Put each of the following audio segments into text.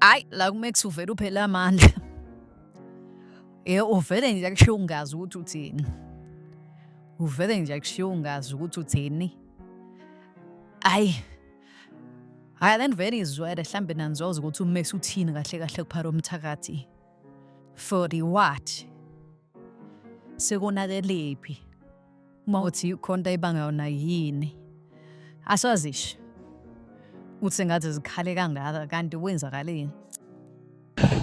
hayi la kumex uvele uphele amandla ye uvele nje akushiya ungazi ukuthi uthini uvele nje akushiya ungazi ukuthi uthini hayi hhayi then vele izwele hlambe nanizwazi ukuthi umesi uthini kahle kahle kuphara umthakathi for the what sekunakelephi uma uthi khonta ibanga yona yini asazisho uthi ngathi zikhale kangaka kanti kwenzakaleni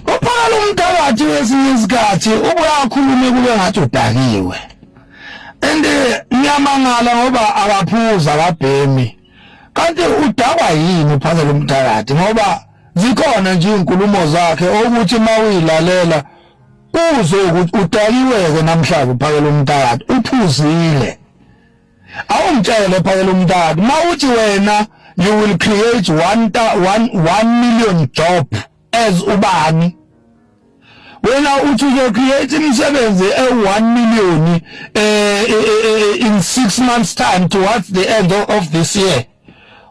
Uphakala umthakathi wesinye isikhathi ubuye akhulume kube ngathi udakiwe. And eh, ngiyamangala ngoba akaphuza akabhemi. Kanti udakwa yini uphakela umthakathi ngoba zikhona nje izinkulumo zakhe ukuthi mawuyilalela uzwe ukuthi udakiweke namhlanje uphakela umthakathi uphuzile. awumtshele phakela umntaka ma uthi wena you will create 1 1 million job as ubani wena uthi uzo create imisebenzi e1 million eh, eh, eh in 6 months time towards the end of this year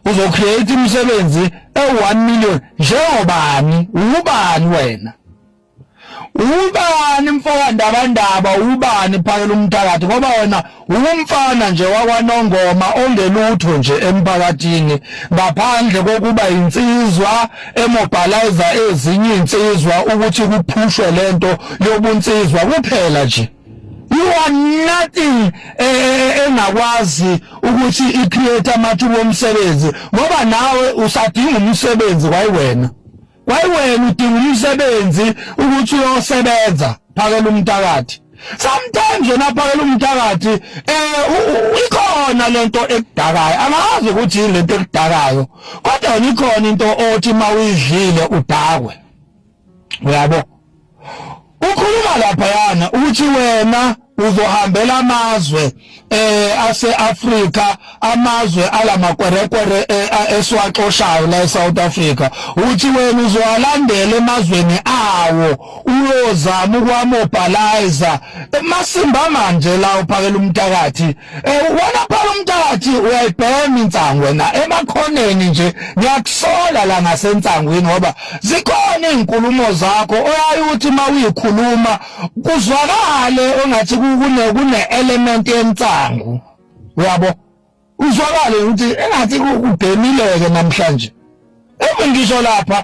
uzo create imisebenzi e1 million njengobani ubani wena ubani mfowandabandaba ubani phakela umthakathi ngoba wena umfana nje wakwanongoma ongelutho nje emphakathini ngaphandle kokuba insizwa emobilize ezinye insizwa ukuthi kuphushwe lento yobunsizwa kuphela nje you are nothing eh, eh, eh, engakwazi ukuthi i create amathuba omsebenzi ngoba nawe usadinga umsebenzi kwayi wena kwayiwena udinga umsebenzi ukuthi uyosebenza phakela umthakathi sometimes yona phakela umthakathi eh ikhona lento ekudakayo angazi ukuthi yini lento ekudakayo kodwa ikhona into othi mawuyidlile udakwe uyabo ukhuluma laphayana uthi wena uzohambela amazwe eh aseAfrika amazwe alamakwerekwere eh, esiwaxoshayo la eSouth Africa uthi wena uzowalandela emazweni awo uyozama ukwamobhalizer masimba manje la uphakela umthakathi Eh, wena phela umntathi uyayibhema insangu wena emakhoneni nje ngiyakusola la ngasensangwini ngoba zikhona izinkulumo zakho oyayuthi mawuyikhuluma kuzwakale engathi kune kune element yensangu uyabo uzwakale ukuthi engathi kubhemileke namhlanje emungisho lapha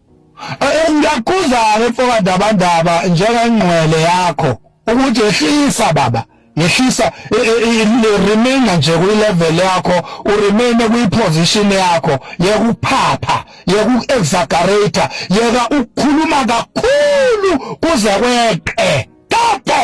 Ngiyakuzala mfoka Ndabandaba njengengqwele yakho ukuthi ehlisa baba yehlisa remaina nje kwi-level yakho uremaine kwi-position yakho yekuphapha yeku-exaggerator yeka ukukhuluma kakhulu kuze kweqe tato